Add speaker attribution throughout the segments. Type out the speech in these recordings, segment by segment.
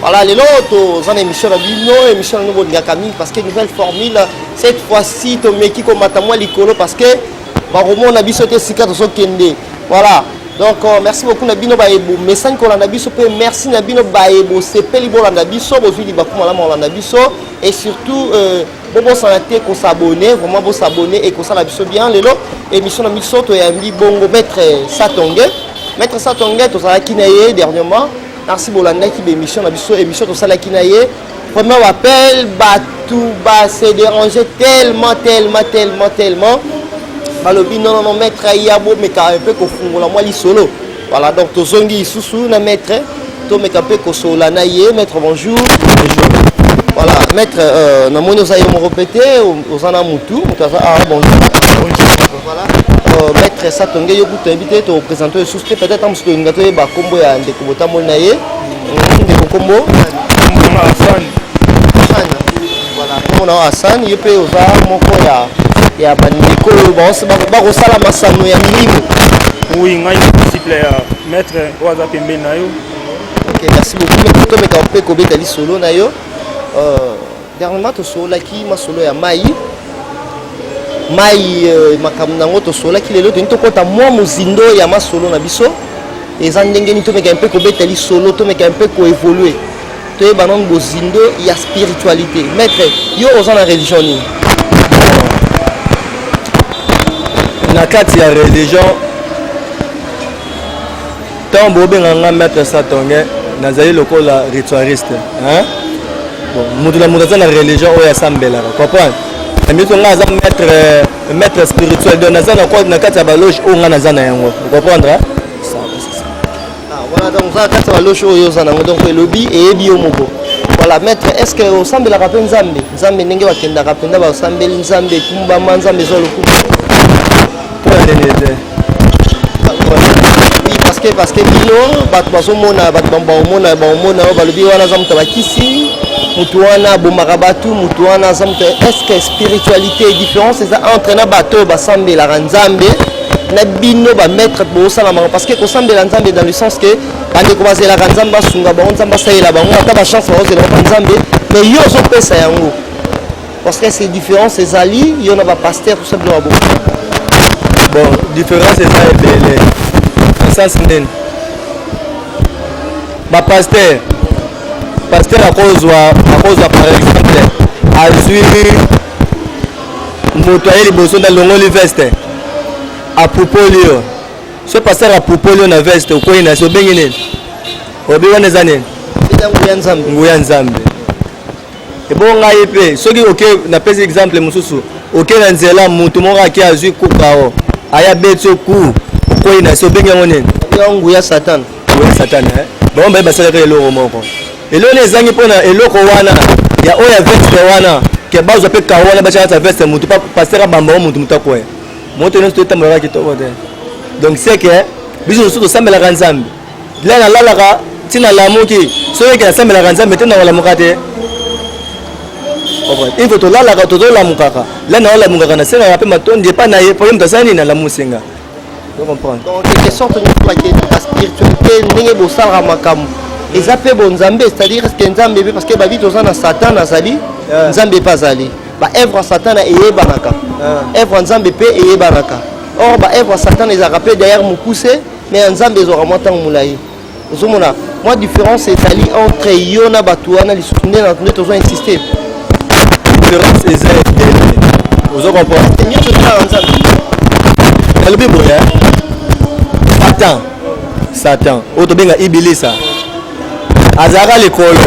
Speaker 1: Voilà, lelo toza na émission na bino émission nango bolingaka mingi parce que nouvelle formule cette fois-ci tomeki komata mwa likolo parce que bakomona biso te esika tozokende voilà donc euh, merci beaucoup na bino baye bomesani kolanda biso mpe merci na bino baye bosepeli bolanda biso bozwi libaku malamu kolanda biso et surtout euh, bobosana te kosabone vraiment bosabone ekosala biso bien lelo émission na biso toyambi bongo maître satonge maître satonge tozalaki na ye dernièrement Merci bolandaki ba émission na biso émission tosalaki na ye vraiment bapel bato base dérange tellement tellement tellement tellement balobi nonono maître aya bomeka mpe kofungola mwa lisolo voilà donc tozongi lisusu na maître tomeka mpe kosolola na ye maître bonjour voilà maître euh, namoni oza yo moko mpe te oza na motu moto aza awa ah, bonjour Voilà. Euh, maître Satonge, yo kutu oyebi te topresente lisusu te peut-être amosusu tolinga toyeba nkombo ya ndeko botamboli na ye mm, ndeko nkombo asani voilà nkombo na yo asani yo mpe oza moko ya ya bandeko oyo bakosala masano ya milimo oui ngai
Speaker 2: disciple ya maître oyo aza pembeni na yo ok merci
Speaker 1: beaucoup mais totomeka mpe kobeta lisolo na yo euh, Dernièrement tosololaki masolo ya mai mai euh, makambo na yango tosololaki lelo toyini tokɔta mwa mozindo ya masolo na biso eza ndenge nini tomeka mpe kobeta lisolo tomeka mpe koevolue toyeba nano bozindo ya spiritualité maître yo oza na religion nini
Speaker 3: na kati ya religion Ntango bobenga nga maître Satonge, nazali lokola ritualiste. Hein? Bon, moto na moto aza na religion oyo asambelaka, comprendre? Namiso nga aza maître maître spirituel donc naza na na kati ya baloge oyo nga naza na yango. Vous comprendre? Hein? Ça, c'est ça. Ah,
Speaker 1: voilà donc za kati ya baloge oyo oza nango donc elobi eyebi yo moko. Voilà maître, est-ce que osambelaka mpe Nzambe? Nzambe ndenge bakendaka mpenza basambeli Nzambe ekumbama Nzambe ezwa lokumu. Pour la dernière. parceke parceke bino bato bazomona bato baomona baomona oyo balobi wana aza moto abakisi moto wana abomaka bato moto wana aza moto estce spiritualité différence eza entre na bato oyo basambelaka nzambe na bino bamaître bosala bango parce que kosambela nzambe dans le sens que bandeko bazelaka nzambe basunga bango nzambe asalela bango ata bachance baozelaka nzambe mais yo ozopesa yango Parce que ces différences ezali yo na ba pasteur tout ça bino babo.
Speaker 3: Bon, différence eza ebele. Na sens nini? Ba pasteur pasteur akozwa akozwa par exemple azwi moto aye liboso nde alongoli veste apupoli yo so pasteur apupoli yo na veste okwei na se obengi nini obi wana eza nini nguya nzambe ebongo ngai mpe soki oke napesi exemple mosusu oke na nzela moto moko ake azwi kukao aya beti yo ku okwei na se obengi yango nini yango nguya
Speaker 1: satana nguya satana eh?
Speaker 3: bango baye basalaka eloko moko eloko nini ezangi mpo na eloko wana ya oyo ya veste wana ke bazwa mpe karo wana batya kati ya veste motu pasera bamba yango motu motu akwea moto nyonso totambolaka kitoko te donc seke biso mosusu tosambelaka nzambe Lea nalalaka ti nalamuki soki eke nasambelaka nzambe te nakolamuka te info tolalaka tozolamukaka lea naolamukaka nasengaka mpe matondi epai na ye mpo ye moto asala nini alamusi nga ocomprendre
Speaker 1: donc quelque sorte nyokaki na spiritualité ndenge bosalaka makambo eza mpe bonzambe c'est-à-dire eske nzambe mpe parce que babi toza na satan azali nzambe mpe azali baevre ya satana eyebanaka evre ya nzambe mpe eyebanaka or baevre ya satana ezalaka mpe derrière mokuse mais ya nzambe ezwaka mwa ntango molai ozomona mwa différence ezali entre yo na bato wana lisusu nde na nde tozo insiste
Speaker 3: différence eza etele ozo comprendre nyonso ezalaka nzambe nalobi boye satan satan oyo tobenga ibilisa azalaka likolo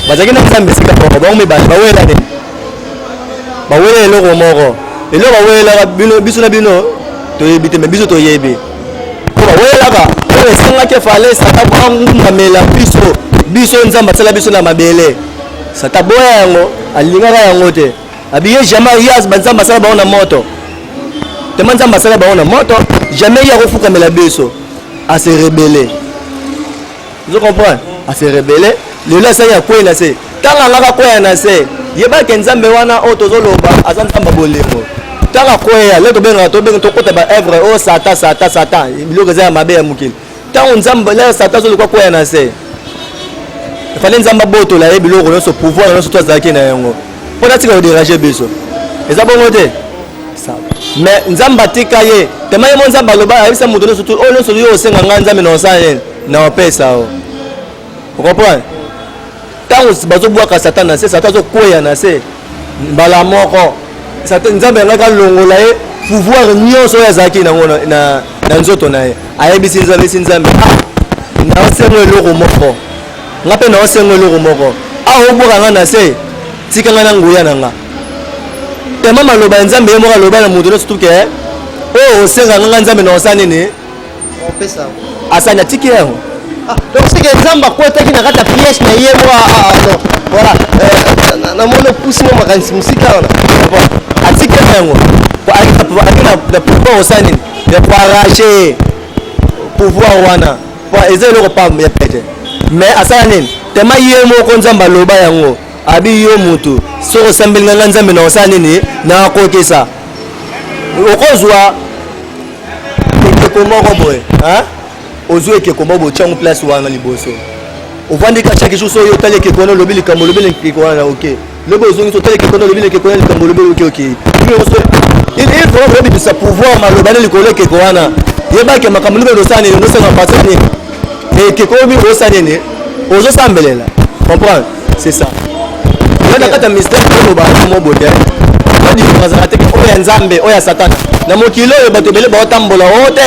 Speaker 3: bazalaki na nzambe esika moko bango mibale bawela nini bawela eloko moko eloko bawelelaka biso na bino toyebi te me biso toyebi oyelaka oyo esengaki efale sata angumbamela biso biso nzambe asala biso na mabele sata boya yango alingaka yango te abiye jamais yas banzambe asala bango na moto tema nzambe asala bango na moto jamais ye akofukamela biso ase rebele ozo comprendre ase rebele lelo asali ya kwei na se ntango angaka kweya na se yebake nzambe wana oyo tozoloba aza nzambe bolingo ntango akweya le tobengaka tobenge tokota baevre oyo oh, satan satan satan biloko eza ya mabe ya mokili ntango nzambe le satan azoluka kweya na se efale nzambe abotola ye biloko nyonso pouvoir nyonso to azalaki na yango mpo natika koderange biso eza bongo te mais nzambe atika ye tema ye mo nzambe aloba ayebisa moto nyonso oyo oh, nyonso yo osenga ngai nzambe na osala nini na opesa o okomprendre ntango bazobwaka satan na se satan azokweya na se mbala moko nzambe yangaki alongola ye pouvoir nyonso oyo azalaki nango na nzoto na ye ayebisi nzambe esi nzambe ah, nasengo eloko moko nga mpe naosenga eloko moko awa obwaka nga na se tika nga na nguya na nga tema maloba ya nzambe ye moko aloba na moto nyonso tuke eh, oyo osengaka nga nzambe na osala nini
Speaker 1: asani atiki
Speaker 3: yango ah, donc seke
Speaker 1: nzambe akwetaki na kati ya pièce na ye mwa ah, ah, voilà euh, namoni opusi mwa makanisi mosika wana atiki yango
Speaker 3: akenda pouvoir osala nini ya koarrache pouvoir wana eza eloko pam ya pete mais asala nini tema ye moko nzambe aloba yango abi yo mutu soki osambeli ngai ngai nzambe na osala nini nakokisa okozwa ekeko moko boye ozwi ekeko moko boye tyango place wana liboso ovandi ka chaque jour soki oyotali ekeko wana olobi likambo olobi ekeko wana oke lobi ozongisi otali kekona olobi na kekona likambo olobi oloki oki ilfaut obimisa pouvoir maloba nde likolo ekeko wana yebake makambo libe losala nini nosala mpasa nini ekeko obi osa nini ozosambelela comprendre c'est ça kata mystère oloba mo bote odifo azala te oyo ya nzambe oyo ya satana na mokili oyo bato ebele baotambola o te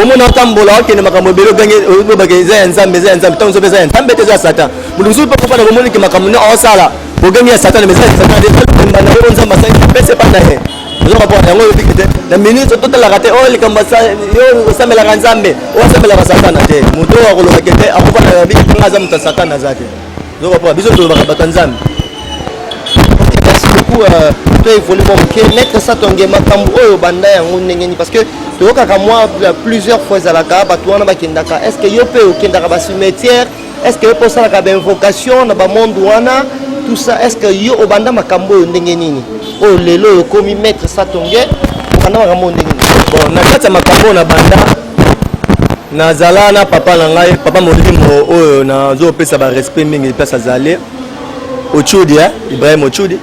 Speaker 3: omona otambola okende makambo ebele ogangi obake eza ya nzambe eza ya nzambe ntango nzobe eza ya nzambe te eza ya satan moto mosusu mpe kofanda komoni ke makambo nde osala bogemi ya satana mesala ya satana ezali komba na oyo nzambe asali apesa epai na ye ozoka mpo yango oyebiki te na ministre totalaka te oyo oh, likambo yo osamelaka nzambe oyo asamelaka satana te moto oyo akolobake te akofanda na biki mpanga aza moto ya satana aza te ozoka mpo biso tolobaka bato ya nzambe
Speaker 1: beaucoup euh, to évolue mwa moke maître satonge makambo oyo obanda yango ndenge nini parce que toyokaka mwa plusieurs fois ezalaka bato wana bakendaka est ce que yo mpe okendaka bacimetière Est-ce que opo salaka ba invocation na ba monde wana tout ça est-ce que yo obanda makambo oyo ndenge nini? Oyo lelo oyo komi maître Satonge obanda makambo ndenge nini? Bon na kati ya
Speaker 3: makambo na banda nazala na papa na ngai papa molimo oyo nazopesa ba respect mingi place azali Ochudi eh? Ibrahim Ochudi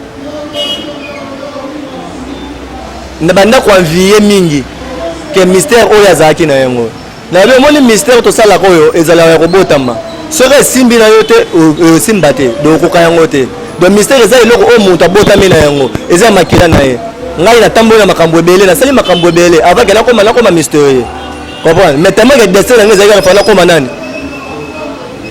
Speaker 3: na banda ko envier mingi ke mystère oyo azalaki na yango Na yo omoni mystère tosalaka oyo ezalaka ya kobotama soki esimbi na yo te osimba te donc okoka yango te donc mystère eza eloko oyo moto abotami na yango eza ya makila na ye ngai natamboli na makambo ebele nasali makambo ebele avant ke nakoma nakoma mystérieux comprendre mais tellement ke destin na ngai ezalaki nafaa nakoma nani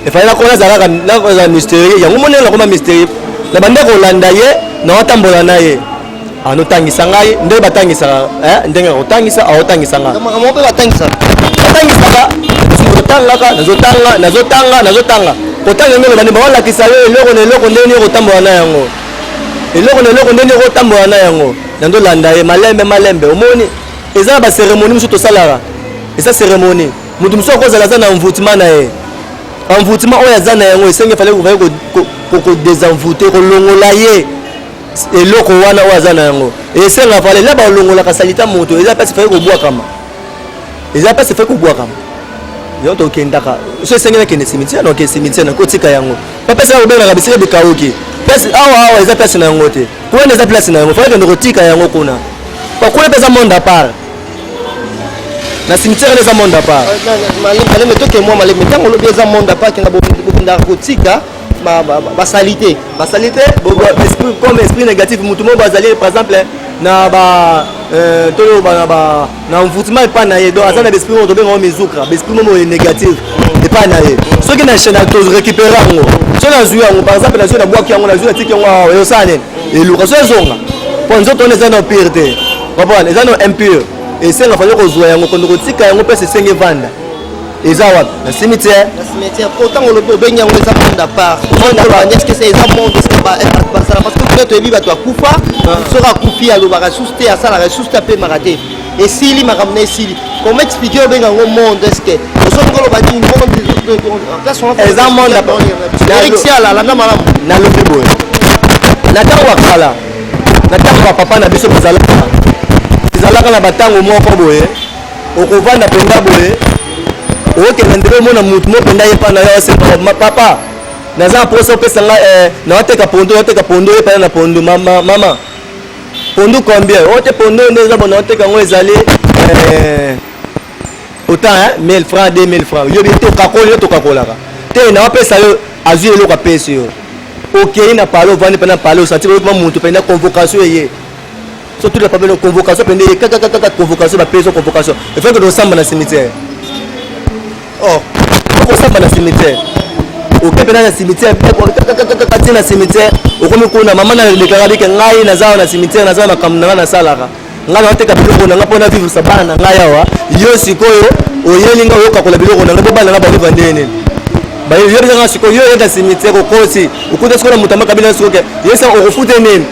Speaker 3: efali nakoma nazalaka nazala mystérieux yango monene nakoma mystérieux na banda kolanda ye naotambola na ye anotangisa ngai nde batangisaka eh, ndenge ya kotangisa aotangisa ngai makambo mpe batangisaka
Speaker 1: batangisaka nazotangaka nazotanga
Speaker 3: nazotanga nazotanga kotanga ndenge bani baolakisa yo eloko na eloko ndenge nini okotambola na yango eloko na eloko ndenge nini okotambola na yango nando landa ye malembe malembe omoni eza na baseremoni mosusu tosalaka eza seremoni moto mosusu akozala aza na envoutement na ye envoutement oyo aza na yango esengi efale kodesenvoute kolongola ye eloko wana oyo aza na yango esenga fale la balongolaka salita moto eza mpasi fai kobwakama eza mpasi fai kobwakama yo tokendaka so esengeli akende cimetière noke cimetière nakotika yango bapesi ya kobengaka bisika bikauki place awa awa eza place na yango te kuna eza place na yango faa kende kotika yango kuna pakuna mpe eza monde apart na cimetière eza monde apart maleme toke
Speaker 1: mwa maleme ntango olobi eza monde apart kenda bokendaka kotika basalite basalite esprit comme esprit négatif motu moko bazali par exemple na ba euh, toloba na ba na envoûtement epai na ye donc aza na baesprit moko tobenga yango mizukra baesprit moko moye négatif epai na ye soki na chaine torécupere yango soki nazwi yango par exemple nazwi nabwaki yango nazwi natiki yango awa eyosala nini eluka soki ezonga mpo nzoto wana eza na pire te comprendre eza na impure esenga fali kozwa yango kondo kotika yango mpesa esengi evanda eza wapi na cimetière na cimetière po ntango olobi obengi yango eza monde à part monde à part est-ce que c'est eza monde est-ce que ba eh, basala parce que peut-être oyebi bato akufa ah. soki akufi alobaka susu te asalaka susu te apemaka te esili makambo na esili comment expliquer obenga yango monde est-ce que osoki koloba nini monde eza monde à part erixi alalanda malamu
Speaker 3: nalobi boye na ntango ya kala na ntango ya papa na biso bazalaka ezalaka na batango moko boye okovanda mpenza boye okenda ndelo omona motu mo mpenza ye mpa na yo asemba papa naza na mposa opesa nga eh, nawateka pondo nawateka pondo ye mpana na pondo mama, mama. pondo combien ote oh, pondo nde eza bona oteka yango ezali eh, autant hein, 1000 francs 2000 francs yobi tokakoli yo tokakolaka te nawapesa yo azwi eloko apesi yo okei na pale ovandi mpe na pale osanti koyokima motu mpenza convocation eye so toute la famille convocation pende ye kaka kaka convocation ba peso convocation il faut que do samba na cimetière oh ko samba na cimetière oke pena na cimetière kaka ti na cimetière okomi kuna mama na lekaka bike ngai naza na cimetière naza na makambo na ngai nasalaka ngai naoteka biloko na ngai mpo na vivre sa bana na ngai awa yo sikoyo oyeli ngai oyokakola biloko na ngai mpo bana na bango vandeye nini bayoyebisanga sikoyo yo oyenda cimetière okosi okuta sikoyo na moto amakabila sikoke yesa okofute nini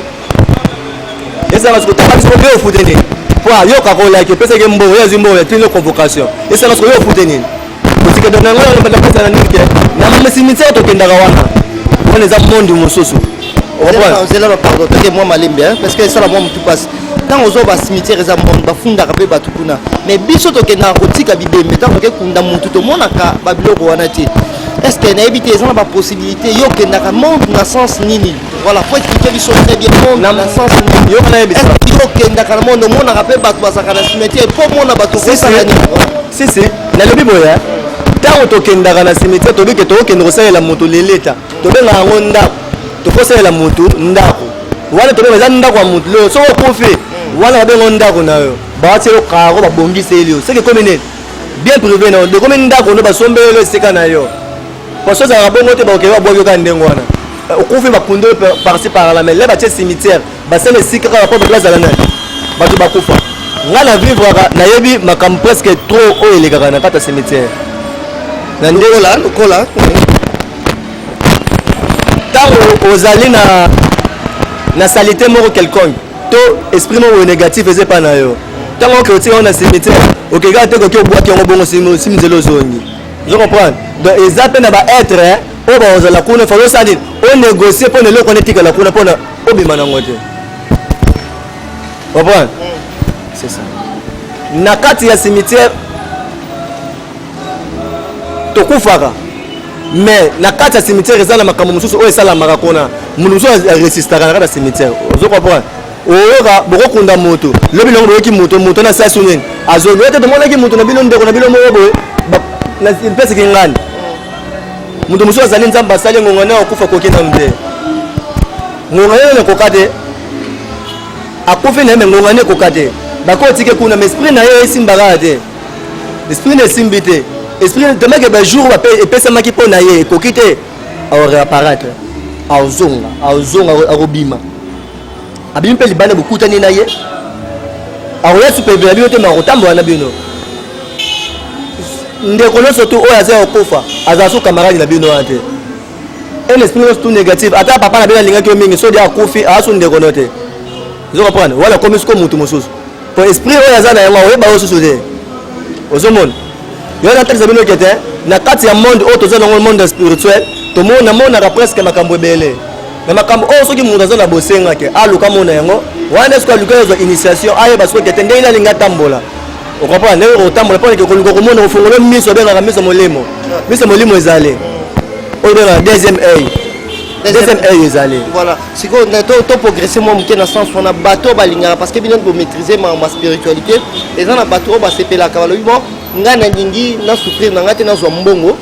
Speaker 3: esala siko tanga siko yo ofute nini po ayoka kolaki epesaki mbongo ye azwi mbongo ya tino convocation esala siko yo ofute nini kosika dona yango yango banda kosala nini ke na misimitio tokendaka wana wana eza monde mosusu ozela
Speaker 1: bapardon toke mwa malembe parce que esala mwa motu mpasi ntango ozwa basimitiere eza mbongo bafundaka mpe bato kuna mais biso tokendaka kotika bibembe ntango toke kunda motu tomonaka babiloko wana te est ce que nayebi te eza na bapossibilité yo okendaka monde na sens nini Voilà, faut expliquer biso très bien monde na sens yo na yebisa. Est-ce que okendaka na monde omonaka mpe bato bazalaka na cimetière mpo omona bato kosala nini? Si si,
Speaker 3: nalobi boye ntango tokendaka na cimetière tobi ke tokokende kosalela moto leleta tobengaka yango ndako tokosalela moto ndako wana tobenga eza ndako ya moto lelo soki okufi wana babengo ndako na yo bawati yo karo babongiseli yo soki ekomi nini bien privé na yo dekomi ndako no basombeli yo esika na yo Poso za bongo te bakoki ba boyoka ndengo wana. Okufi ba kundo parti par la mais là ba tse cimetière ba sala esika kaka po ba zala nani. Bato bakufa. Nga na vivre nayebi makambo presque trop oyo elekaka na kata cimetière. Na ndola lokola ntango ozali na na salite moko quelconque to esprit moko négatif eza epai na yo ntango oke otika yango na cimetière okekaka te koki obwaki yango bongo simizeli ozongi ozo comprendre donc eza mpe na baetre eh, oyo bakozala kuna fali osala nini onegocie mpo na eloko wana etikala kuna mpo na obima nango te comprendre c'est ça na kati ya cimetière tokufaka mais na kati ya cimetière eza na makambo mosusu oyo esalamaka kuna moto mosusu aresistaka na kati ya cimetière ozo comprendre oyoka bokokunda moto lobi longo boyoki moto moto na sasu nini azongi ete tomonaki moto na bino ndeko na bino moko boye mpesi kingani moto mosusu azali nzambe asali ngonga nayo akufa koki nanu te ngonga nayo nakoka te akufi na ye me ngonga nayo ekoka te bakotike kuna ma esprit na ye esimbaka te esprit na esimbi te esprit temake bajour epesamaki mpo na ye ekoki te aoreaparatre aozonga aozonga akobima abimi mpe libanda bokutani na ye akoya supeve na bino te makotambola na bino ndeko nyonso tu oyo aza ya kokufa azala so kamaradi na bino wana te un esprit nyonso tu négatif ata papa na bino alingaki yo mingi sodi akufi aza so ndeko no te ozo comprendre wana akomi siko motu mosusu po esprit oyo aza na yango akoyeba yo susu te ozomona yo natalisa bino ke te na kati ya monde oyo toza nango monde spirituel tomonaka presque makambo ebele me makambo oyo soki moto aza na bosenga te aluka mona yango wana soki aluki azwa initiation ayeba soki tete ndenge nalingi atambola okompana ndenge okotambola mpo nake koluka komona kofungolo miso obengaka miso molimo miso molimo ezali oyo obengaka deuxième œil deuxième œil ezali voilà sikoyo
Speaker 1: to progresse mwa moke na sens wana bato oyo balingaka parce que bino bomaîtrise ma spiritualité eza na bato oyo basepelaka balobi bon ngai nalingi na souffrir na ngai te nazwa mbongo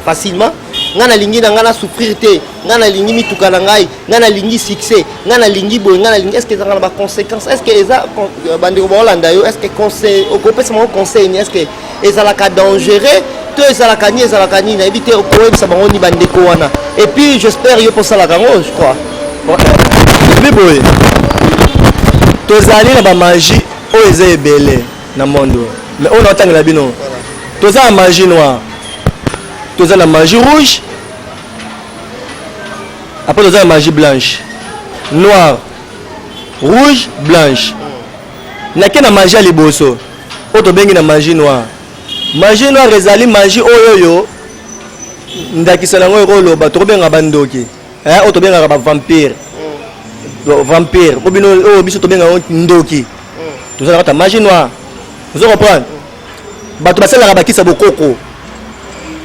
Speaker 1: facilement ngai nalingi na ngai na souffrir te ngai nalingi mituka na ngai ngai nalingi succès ngai nalingi boye ngai nalingi estce ezanga na baconséquence estce eza euh, bandeko baolanda yo estce conseil okopesa bango conseil ni estce ezalaka dangereux to ezalaka ni ezalaka nini nayebi te okoyebisa bango ni bandeko wana et puis j'espère yo mposalaka yango je crois
Speaker 3: ebi boye tozali na bamagie oyo eza ebele na monde mais oyo naotangela bino toza na magie noire toza na magie rouge Après oza na magie blanche, noire, rouge, blanche. Nake na magie ya liboso oyo tobengi na magie noire. Magie noire ezali magie oyo oyo ndakisa nango ekoloba tokobenga bandoki eh, oyo tobengaka bavampire mm. vampire oyo bino oyo biso tobengaka ndoki mm. tozalaka ta magie noire ozo comprendre bato basalaka bakisa bokoko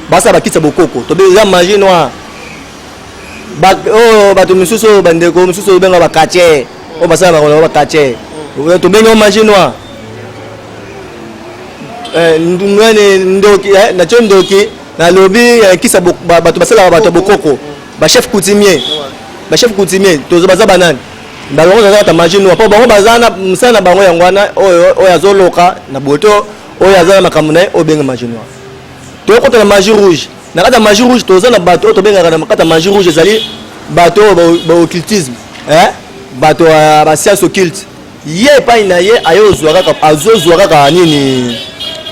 Speaker 3: basala bakisa bokoko tobe eza magie noire oyo oh, bato mosusu oyo bandeko mosusu oyo benga bakatie oyo basala bakolaka bakatie tobengi o magie noire eh, nani ndoki eh, natyo ndoki nalobi eh, kisa bato basalaka bato ya bokoko bachef coutumier bachef coutumier baza banani bango oyo azalaka maji nua mpo bango baza na mosala na bango yango wana oyo oyo azoloka na boto oyo aza na makambo na ye oyo benga maji nua tokota na maji rouge na kati ya maji rouge toza na bato oyo tobengaka na kati ya maji rouge ezali bato oyo baoccultisme eh? bato ya basiance occulte ye epai na ye aye ozwa kaka azozwa kaka nini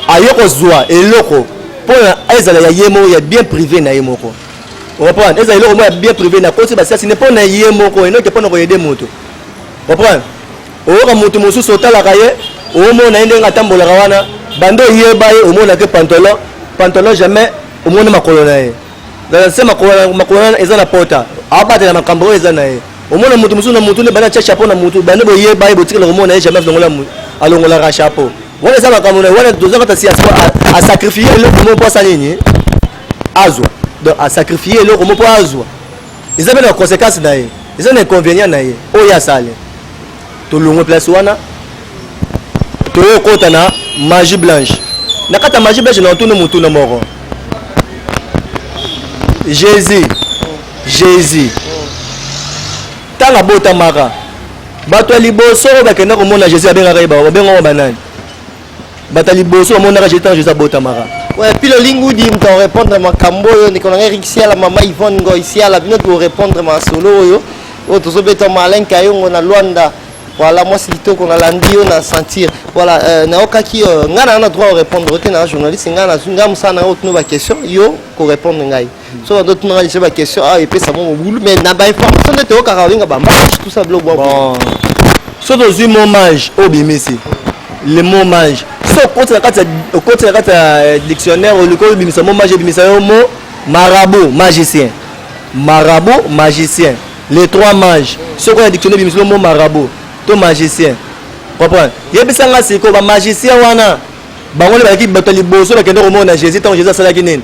Speaker 3: aye kozwa eloko mpo na ezala ya ye moko ya bien privé na ye moko Reprendre. Eza eloko moya bien privé na koti basiasi ne pona ye moko enoke pona koyede moto. Reprendre. Oyoka moto mosusu otalaka ye omona ye ndenge atambolaka wana bando oyeba ye omona ke pantalon pantalon jamais omoni makolo na ye se makolo wana eza na pota abatela makambo oyo eza na ye omona moto mosusu na motu nde banda atya chapeau na motu bande boyeba ye botikela komona ye jamais alongolaka chapeau wana eza makambo na ye wana toza kata si asakrifie eloko moko mpo asala nini azwa donc a sacrifier eloko moko azwa eza pe na conséquence na ye eza na inconvénient na ye oyo asali tolongwe place wana toyokota na magie blanche na kati ya magie blanche na otuni motuna moko jésus jésus ntango abotamaka bato ya liboso oyo bakenda komona jésus abengaka ye babengaka banani Bata liboso bamonaka je ntango Jésus abotamaka. Ouais, puis le lingudi
Speaker 1: moto arépondre makambo oyo ndeko na ngai Eric Siala mama Yvonne Ngoy Siala bino tokorépondre masolo oyo oyo tozobeta Malin Kayongo na Luanda voilà mwasi kitoko nalandi yo na sentir voilà euh, nayokaki euh, ngai naa na droit orépondre te na journaliste ngai nazwi ngai mosala na ngai otuna baquestion yo korépondre ngai so bato tunaka lisusu baquestion awa ah, epesa mwa mobulu mais na bainformation nde toyokaka olinga bamage tout ça biloko bon
Speaker 3: so tozwi momage oyo bimisi le momage so okoti na kati ya eh, dictionnaire oliki obimisa momage ebimisa yo mo marabout magicien marabout magicien les trois mages soki oya dictionnaire ebimisa yo mo marabout to magicien comprendre yebisa nga sikoyo bamagicien wana bango nde balaki bato ya liboso bakende komona jésus ntango jésus asalaki nini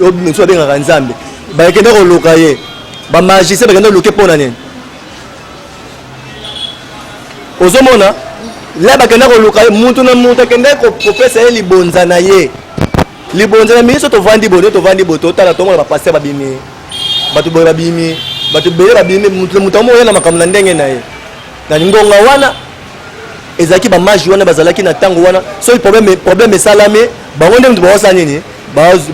Speaker 3: lobi mosusu abengaka nzambe bakenda koluka ye bamagicien bakenda koluke mpo na nini ozomona la bakenda koluka ye motu na motu akenda kopesa ye libonza na ye libonza na miso tovandi boye tovandi boye totala tomona bapaster babimi bato boye babimi bato ebele babimi motu na motu amoya na makambo na ndenge na ye na ngonga wana ezalaki bamage wana bazalaki na ntango wana soki problème problème esalami bango nde moto baosala nini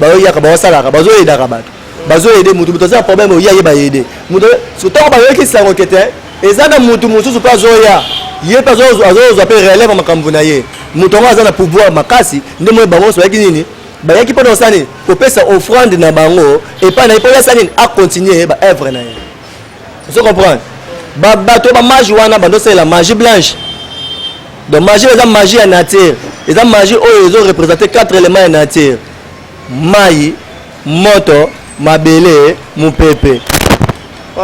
Speaker 3: baoyaka baosalaka bazoyedaka bato bazoyede motu moto aza na problème oye aye bayede moto ntango bayoki sango ke te eza na motu mosusu mpe azoya ye mpe azozwa mpe relève ya makambo na ye moto yango aza na pouvoir makasi nde moye bango nyonso bayaki nini bayaki mpo na kosala nini kopesa offrande na bango epai na ye mpo ye asala nini akontinue baevre na ye ozo comprendre ba bato ba magie wana bando sala magie blanche donc magie eza magie ya nature eza magie oyo ezo représenter quatre éléments ya nature mai moto mabele mopepe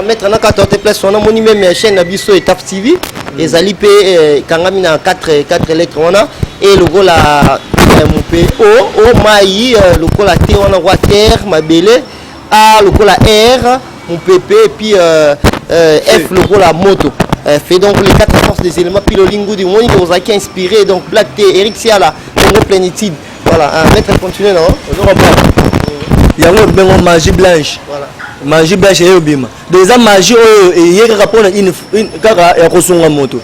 Speaker 1: maître na kata te place wana moni meme ya chaîne na biso etape tv ezali mpe eh, ekangami na 4 4 lettre wana e lokola eh, mope o o mai eh, lokola te wana roi terre mabele A lokola R mupepe et puis euh, euh, F lokola moto euh, fait donc les quatre forces des éléments pilolingu du monde aux acquis inspiré donc Black T Eric Siala Congo plénitude voilà un maître continuer non ozo comprendre yango bengo magie blanche voilà magie blanche eyo bima donc eza magie oyo eye kaka mpona kaka ya kosunga moto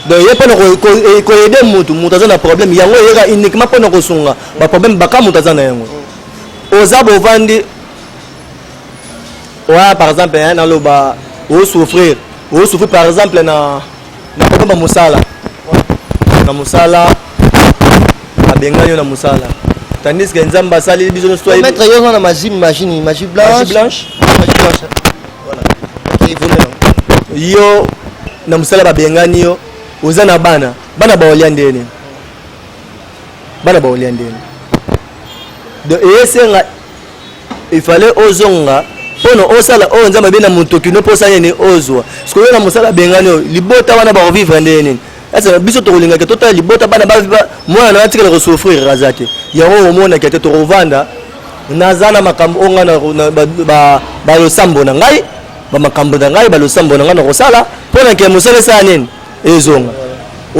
Speaker 1: donc ye mpona koyede motu moto aza na problème yango eyeka uniquement mpona kosunga baproblème baka moto aza na yango oza bovandi
Speaker 3: oya par exemple hein, naloba osouffrir osouffrir par exemple na na kobomba mosala na mosala abengani yo na mosala tandis que nzambe asali biso nyosomaitre yo na magie
Speaker 1: machine magie blanche blanche yo
Speaker 3: na mosala babengani yo oza na bana bana baolia ndene bana baolia ndeni donc eyesenga ifale ozonga mpono osala oyo nzambe abe na motoki no mpo osala nini ozwa sikoyo na mosala abengani oyo libota wana bakovivre ndenge nini esa biso tokolingaka totala libota bana mwana na atikala kosouffrir aza te yango okomonaka te tokovanda naza na makambo oyo ngai balosambo na ngai bamakambo na ngai balosambo na ngai nakosala mpo na ke mosala esala nini ezonga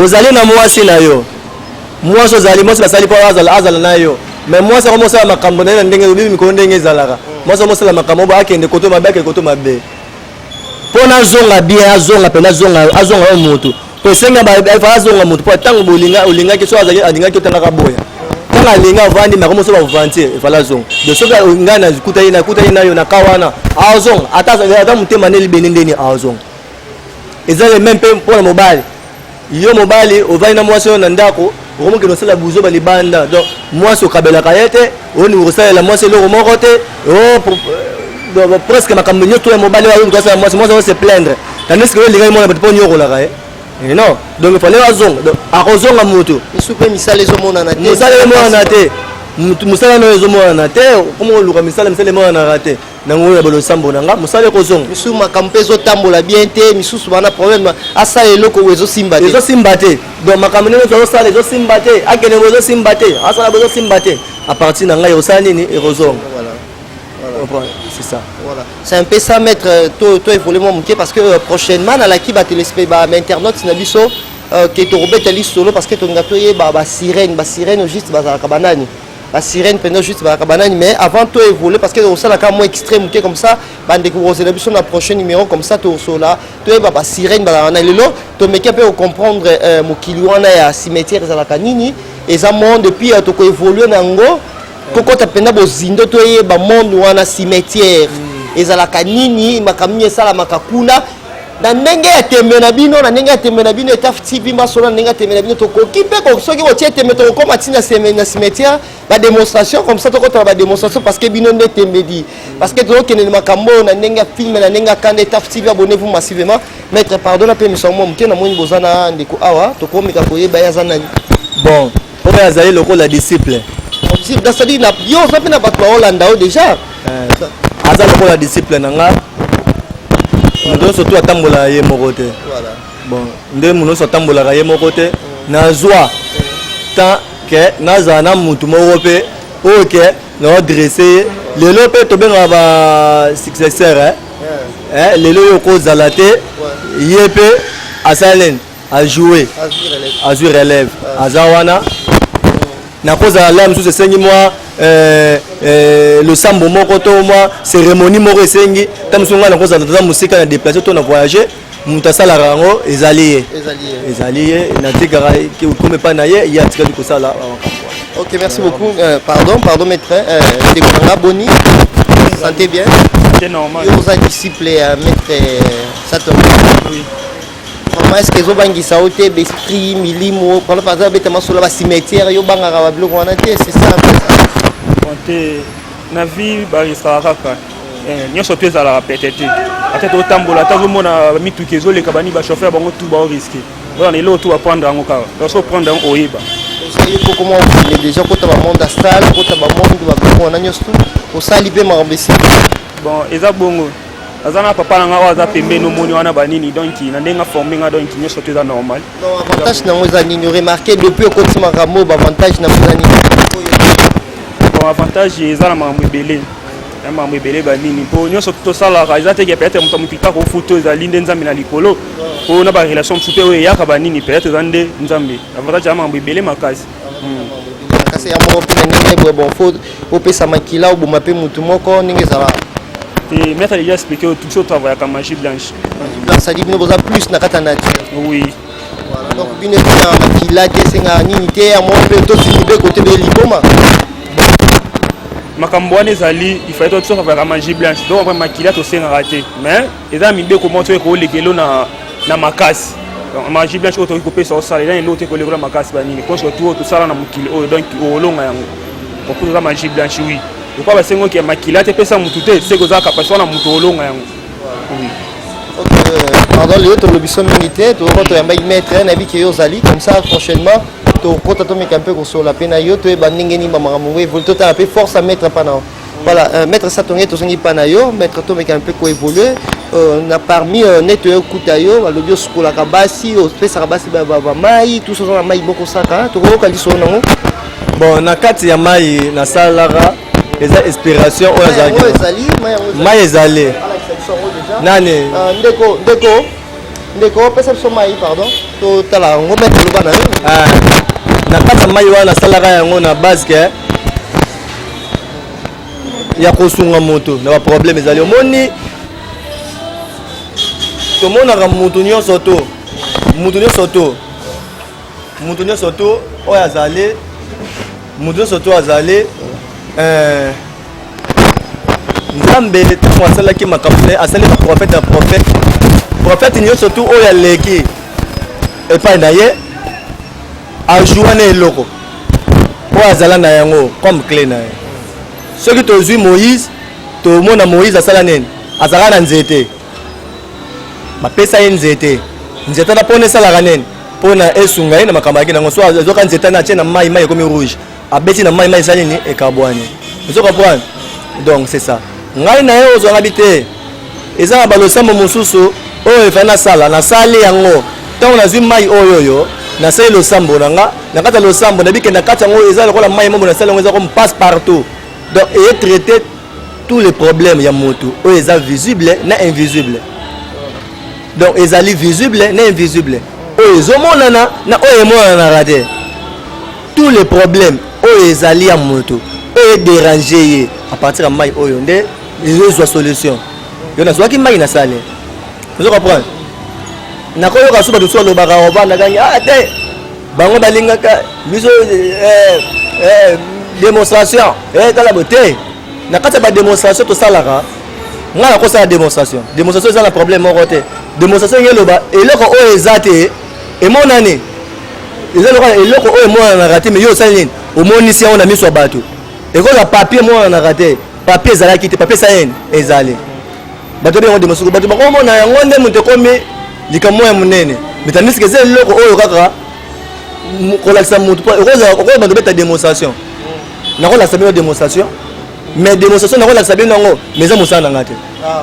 Speaker 3: ozali na mwasi na yo mwasi ozali mwasi basali mpo azala azala na yo me mwasi yango mosala makambo na ye na ndenge obibi mikolo ndenge ezalaka mwasi yango mosala makambo obo akende koto mabe akende koto mabe mpo nazonga bien azonga mpe nazonga azonga yo motu mpo esengi fa azonga motu mpo ntango bolinga olingaki so azali alingaki otangaka boya ntango alinga avandi mako moso bavantie efala azonga de soki ngai nakutani nakutani nayo na ka wana azonga ata motema nde libende ndeni azonga eza le meme mpe mpo na mobali yo mobali ovandi na mwasi oyo na ndako okomokende osala buzoba libanda donc mwasi okabelaka ye te olingi kosalela mwasi eloko moko te oh, euh, presque makambo nyonso ya mobali oyo kosala mwasi mwasi ose plaindre tandis que olingaki mwana bato mpo onyokolaka ye eh, non donc il fallait azonga donc akozonga motu biso mpe misala
Speaker 1: ezomonana te mosala ezomonana te
Speaker 3: mosala nayo ezomonana te okomi koluka misala misala emonanaka te na ngolu ya balosambo na nga mosala ekozonga misusu makambo mpe
Speaker 1: ezotambola bien te misusu bana problème asala eloko oyo ezosimba te ezosimba te donc makambo ndenge
Speaker 3: tozosala ezosimba te akende bo ezosimba te asala bo ezosimba te à partir na ngai ekosala nini ekozonga c'est ça voilà c'est un peu ça
Speaker 1: maître euh, to to évoluer moi moke parce que euh, prochainement na laki ba téléspe ba internautes na biso euh, ke tokobeta lisolo parce que tolinga toyeba basirene basirene juste bazalaka banani ba sirène pendant juste ba kabanani mais avant to évoluer parce que osala ka moins extrême que comme ça bande ko osela biso na prochain numéro comme ça to sola to eba ba sirène ba na lelo to meke pe comprendre euh, mokili wana ya cimetière ezalaka nini eza monde puis euh, to ko évoluer na ngo kokota penda bozindo to yeba monde wana cimetière mm. ezalaka nini makambo nini esalamaka kuna na ndenge ya tembe na bino na ndenge ya tembe na bino etaf tv masolo na ndenge ya tembe na bino tokoki mpe soki botie tembe tokokoma ti na cimetière badémonstration comme ça tokotala badémonstration parce que bino nde tembedi parce que tozokende na makambo oyo na ndenge ya filme na ndenge ya kanda etaf tv abonne vous massivement maître pardon na mpe miso yango moke namoni boza na ndeko awa tokomeka koyeba ye aza nani bon
Speaker 3: oyo azali lokola disciple nasali
Speaker 1: na yo oza mpe na bato baolanda yo deja eh, aza
Speaker 3: lokola disciple na nga moto nyonso tu atambola ye moko te bon nde moto nyonso atambolaka ye moko te mm. nazwa temps ke nazala na motu moko mpe oyo ke naodresse ye lelo mpe tobengaka ba successeur eh? eh, lelo oyo okozala te ye mpe asala nini a jouer azwi relève aza wana nakozala la mosusu esengi mwa euh, euh, losambo moko to mwa cérémonie moko esengi ta mosusu ngai nakozala toza mosika na déplace to na voyage moto asalaka yango ezali ye ezali ye natikaka okoma epai na ye ye atikali kosala makambo ok merci
Speaker 1: beaucoup euh, pardon pardon maître euh, ndeko na nga boni santé bien oza
Speaker 2: disciple ya
Speaker 1: maître euh, sator Maman, est-ce que ezo bangisa yo te besprit milimo par exemple aza beta masolo ba cimetière yo bangaka ba biloko wana te c'est ça te
Speaker 2: na vie barisaka kaka eh, nyonso to ezalaka pete te ata totambola ata ozomona mituki ezoleka bani bachauffeur bango tu bao riske wana na eloko tu baprendre yango kaka loso prendre yango oyeba osali mpo koma
Speaker 1: okende déjà kota bamonde astale kota bamonde babiloko wana nyonso tu osali mpe makambo esili bon eza
Speaker 2: bongo aza na papa na nga oyo aza pembeni omoni wana banini donc na ndenge aforme nga donc nyonso to eza normal avantage nango
Speaker 1: eza nini remarke depuis okoti makambo bavantage nango eza nini
Speaker 2: bon avantage eza na makambo ebele na makambo ebele banini mpo nyonso tosalaka eza teke peut-être moto moto kaka ofuta ezali nde nzambe na likolo mpo na barelation mosusu mpe oyo eyaka banini peut-être eza nde nzambe avantage ya makambo ebele makasi
Speaker 1: kasi ya moko mpe na ndenge boye bon fo opesa makila oboma mpe motu moko ndenge ezala te maître
Speaker 2: déjà expliqué oyo biso travaillaka magie blanche sadi bino
Speaker 1: boza plus na kati ya nature oui
Speaker 2: donc
Speaker 1: bino esengaka makila te esengaka nini te ya moko mpe tosiki mpe kote bee liboma makambo
Speaker 2: wana ezali ifai tosoka vraimen magie blanche donc makila tosengaka te mais eza mibeko moko toyei koleka elo na, na makasi magie blanche oyo tokoki kopesa osala eza eloko te kolekola makasi banini konso tu oyo tosala na mokili oyo donc olonga yango okoki oza magie blanche wi lokola basengo ke makila te pesa motu te seke oza kapasi wana motu olonga yango
Speaker 1: pardon lelo tolobi so mingi te tokoko toyambaki maître nayebi ke yo ozali comme ça prochainement tokota tomeka mpe kosolola mpe na yo toyeba ndenge nini bamakambo yango evoli totala mpe force ya maître mpa na yo Voilà, euh, maître Satonge tozongi pa na yo, maître Tomeka un peu ko évoluer. Euh, na parmi euh, net yo kuta yo, balobi osukolaka basi, opesaka basi ba ba mai, tout ça na mai boko saka, tokoyoka liso nango. Bon, na
Speaker 3: kati ya mai na salara eza inspiration oyo azalaki. Mai ezali, mai ezali. Mai ezali. Nani? Euh, ndeko, ndeko. Ndeko, pesa biso mai, pardon. To tala yango maître loba na yo. Ah. Na kati ya mai wana nasalaka yango na base que ya kosunga moto na baproblème ezali omoni tomonaka moto nyonso to moto nyonso to moto nyonso to oyo azali moto nyonso to azali eh, nzambe ntango asalaki makambo te asali baprofete ya profete profete nyonso to oyo aleki epai na ye Age wana eloko oyo azala na yango comme cle na ye soki tozwi moïse tomona moïse asala nini azalaka na nzete bapesa ye nzete nzete wana mpona esalaka nini mpona esunga ye na makambo yaki nango so ezwaka nzete na atie na mai mai ekomi rouge abeti na mai mai esali nini ekabwani ozo comprendre donc c'est ça ngai na ye ozwa ngabi te eza na balosambo mosusu oyo efali nasala nasali yango ntango nazwi mai oyo oyo nasali losambo na nga na kati ya losambo nayebi ke na kati yango eza lokola mai mobo nasali yango eza comme passe partout donc eye traité tous les problèmes ya motu oyo eza visible na invisible donc ezali visible na invisible oyo ezomonana na oyo emonanaka te tous les problèmes oyo ezali ya moto oyo ederange ye à partir ya mai oyo nde ezozwa solution yo nazwaki mai na sale ozo comprendre nakoyoka so bato so balobaka obandakaki ah te bango balingaka biso eh, eh, démonstration eh, tala bo te na kati ya bademonstration tosalaka ngai nakosala démonstration démonstration eza na problème moko te démonstration ngeloba eloko oyo eza te emonani eza lokola eloko oyo emonanaka te mais yo osali nini omonisi yango na miso ya bato ekozala papier emonanaka te papier ezalaki te papier esali nini ezali bato obengo demosoko bato bakomona yango nde moto ekomi likambo ya monene metandisike eza eloko oyo kaka kolakisa moto po okozala bando beta démonstration nakolakisa bino démonstration mais démonstration nakolakisa bino yango mais eza mosala na ngai te ah,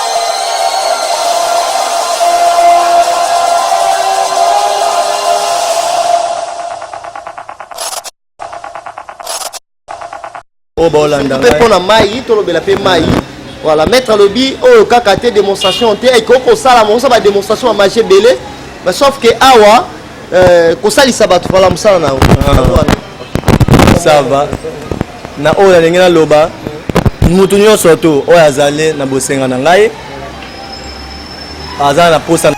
Speaker 3: oyo baolanda mpe mpo na mai
Speaker 1: tolobela mpe mai voilà maître alobi oyo kaka te démonstration te ekoki kosala mokosa bademonstration ya magie ebele mais sauf que awa euh, kosalisa bato vala mosala na yango ah.
Speaker 3: ça va Na oyo nalingi naloba, mutu nionso tu oyo azali na bosenga na ngai aza na posa na